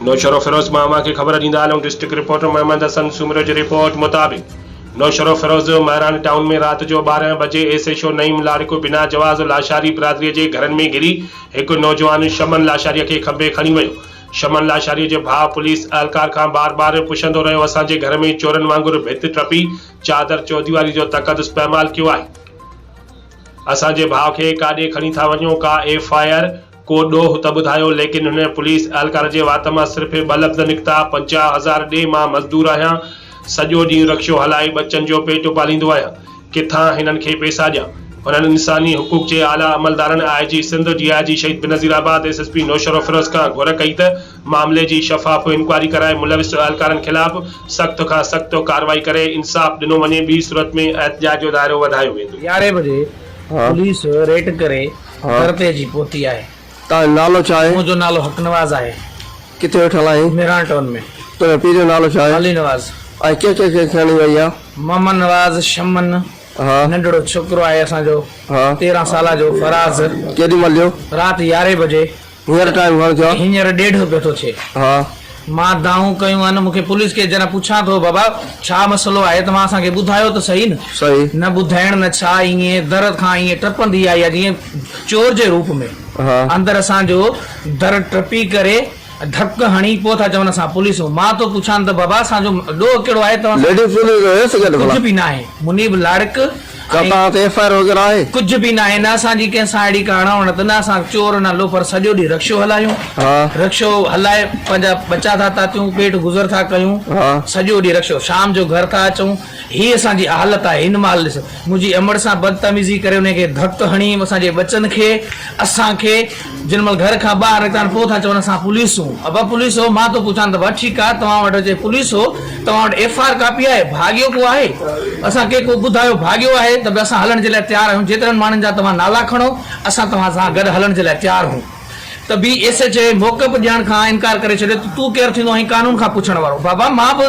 نوشهروفيروز مان اوهان کي خبر ڏيندا هلون ڊسٽرڪٽ رپورٽر محمد حسن سومرو جي رپورٽ مطابق نوشهروفيروز مهراڻ ٽائون ۾ رات جو ٻارهن بجي S H O Naeem Larik بنا جواز لاشاري برادري جي گهرن ۾ گهري هڪ نوجوان شمن لاشاري کي کنڀي کڻي ويو شمن لاشاري جي ڀاء پوليس اهلڪار کان بار بار پڇندو رهيو اسان جي گهر ۾ چورن وانگر ڀت ٽپي چادر چوديواري جو تقدس پائمال ڪيو آهي اسان جي ڀاء کي ڪاڏي کڻي ٿا وڃو ڪا ايف آء آر ڪو ڏوهه ته ٻڌايو، ليڪن هن پوليس اهلڪار جي وات مان صرف ٻه لفظ نڪتا، پنجاهه هزار ڏي، مان مزدور آهيان، سڄو ڏينهن رڪشو هلائي ٻچن جو پيٽ پاليندو آهيان، ڪٿان هنن کي پئسا ڏيان. هنن انساني حقوق جي اعليٰ عملدارن، آء جي Sindh, D I G Shaheed Benazirabad, S S P Naushahro Feroze کان گهر ڪئي ته معاملي جي شفاف انڪوائري ڪرائي ملوث اهلڪارن خلاف سخت کان سخت ڪارروائي ڪري انصاف ڏنو وڃي، ٻي صورت ۾ احتجاج جو دائرو وڌايو ويندو. يارهين بجي پوليس ريڊ ڪري دربي جي پوتي آهي. تنهنجو نالو ڇا آهي؟ منهنجو نالو حق نواز آهي. ڪٿي ويٺل آهين؟ ميران ٽائون ۾. تنهنجي پيء جو نالو ڇا آهي؟ علي نواز. ۽ ڪنهن ڪنهن کي کڻي وئي آهي؟ محمد نواز، شمن، ننڍڙو ڇوڪرو آهي اسان جو تيرهن سالن جو فراز. ڪيڏي مهل جو؟ رات يارهين بجي. هينئر ٽائيم گهڻ ٿيو آهي؟ هينئر ڏيڍ پيو ٿو ٿئي. ها. مان دانهون ڪيون آهن. مون کي پوليس ڪيس جڏهن پڇان ٿو بابا ڇا مسئلو آهي توهان اسان کي ٻڌايو ته صحيح نه. صحيح. نه ٻڌائڻ نه ڇا ايئن در کان ايئن ٽپندي آئي آهي جيئن چور جي روپ ۾. ها. اندر اسان جو در ٽپي ڪري ڌڪ هڻي پوء ٿا چون اسان پوليسون. مان ٿو پڇان ته بابا اسان جو ڏوهه ڪهڙو آهي توهان سان. ليڊي پوليس هيس ڪڏهن ڀلا؟ ڪجهه به ناهي. منيب لاڙڪ. ڇا توهان تي ايف آء آر وغيره آهي؟ ڪجهه به ناهي نه اسان جي ڪنهن سان اهڙي ڪا اڻهوڻت نه اسان چور نه لوفر سڄو ڏينهن رڪشو هلايون رڪشو هلائي پنهنجا ٻچا ٿا تاتيون پيٽ گذر ٿا ڪيون سڄو ڏينهن رڪشو شام جو گهر ٿا اچون هي اسان جي حالت آهي هن مهل ڏس منهنجي امڙ سان بدتميزي ڪري انهي کي ڌڪ هڻي اسان جي ٻچن کي اسان کي جن مھل گھر کان ٻاھر نڪتان پوء تھا چون اسان پوليس ھون ابا پوليس ھو مان تون پڇان ته بھ ٺيڪ آھي توھان وٽ جي پوليس ھو توھان وٽ ايف آر ڪاپي آھي ڀاڳيو ڪو آھي اسان کي ڪو ٻڌايو ڀاڳيو آھي ته بھ اسان ھلڻ جي لاء تيار آھيون جيترن ماڻھن جا توھان نالا کڻو اسان توھان سان گڏ ھلڻ جي لاء تيار ھون ته بي ايس ايڇ اي موقف ڏيڻ کان انڪار ڪري ڇڏيو ته تون ڪير ٿيندو آھين قانون کان پڇڻ وارو بابا مان بھ